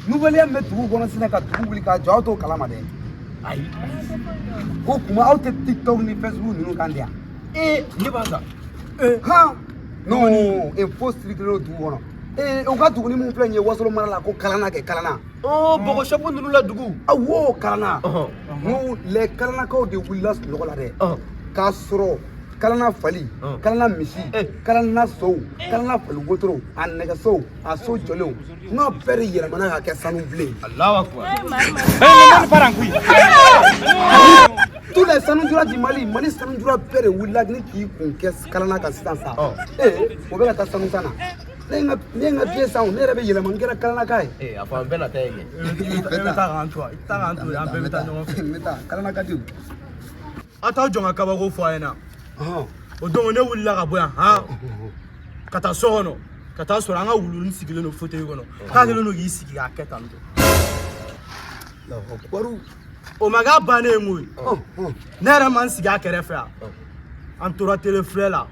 nouvelle min bɛ dugu kɔnɔ sisan ka dugu wuli ka jɔ aw t'o kalama dɛ ayi ko kuma aw tɛ tiktok ni facebook ninnu kan de yan ee ne b'a ta han non info circulélen don dugu kɔnɔ ee u ka dugu ni mun filɛ nin ye wasolo mara la ko kalana kɛ kalana ɔ bɔgɔ sɛfu ninnu la dugu awo kalana n les kalanakaw de wulila sunɔgɔ la dɛ k'a sɔrɔ kalana fali kalana misi kalana sow kalana fali wotoro a nɛgɛsow a so jɔlenw n ka bɛɛ de yɛlɛmana ka kɛ sanu bilen tous les sanujura du mali mali sanujura bɛɛ de wulila ni k'i kun kɛ kalana kan sisan sa ee o bɛ ka taa sanu san na ne n ka ne n ka biye san ne yɛrɛ bɛ yɛlɛma n kɛra kalanaka ye ee a fɔ an bɛɛ na taa yen kɛ i bɛ taa k'an to yan i bɛ taa k'an to yan an bɛɛ bɛ taa ɲɔgɔn fɛ n bɛ taa kalana ka di aw t'aw jɔ ka kabako fɔ a ɲɛna o don ne wulila ka bɔ yan han ka taa so kɔnɔ ka taa sɔrɔ an ka wuluni sigilen don fauteuil kɔnɔ k'a kɛlen don k'i sigi k'a kɛ tan tɔ o ma k'a bannen ye koyi ne yɛrɛ ma n sigi a kɛrɛfɛ yan an tora tele filɛ la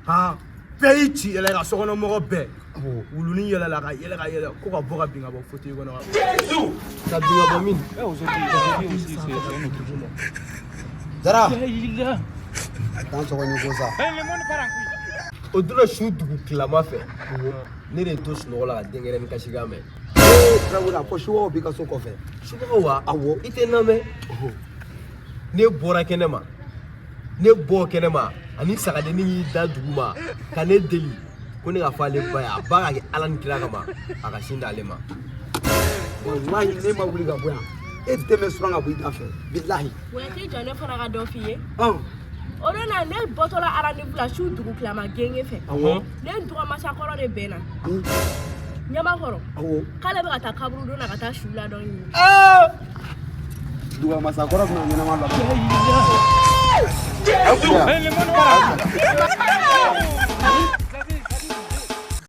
han bɛɛ y'i ci yɛlɛ ka sokɔnɔmɔgɔ bɛɛ wuluni yɛlɛla ka yɛlɛ ka yɛlɛ ko ka bɔ ka bin ka bɔ fauteuil kɔnɔ ka ka bin ka bɔ min dara dan sɔgɔni ko sa o donna su dugu tilama fɛ ne de to sunɔgɔ la ka denkɛrɛnin kasikan mɛn tarawele ko subagaw b'i ka so kɔfɛ subagaw wa awɔ i tɛ n lamɛn ne bɔra kɛnɛ ma ne bɔ kɛnɛma ani sagadennin y'i da duguma ka ne deli ko ne ka fɔ ale ba ye a ba ka kɛ ala ni kira kama a ka sin d'ale ma walahi ne ma wuli ka bɔ yan e den bɛ suran ka bɔ i da fɛ bilahi wa t'i jɔ ne fana ka dɔ f'i ye o don na ne bɔtɔla rendez-vous la su dugu tilama genge fɛ ne ni duga masakɔrɔ de bɛnna ɲamakɔrɔ k'ale bɛ ka taa kaburudon na ka taa su la dɔ ɲini Duga masa kɔrɔ bɛna ɲɛnama la. Aw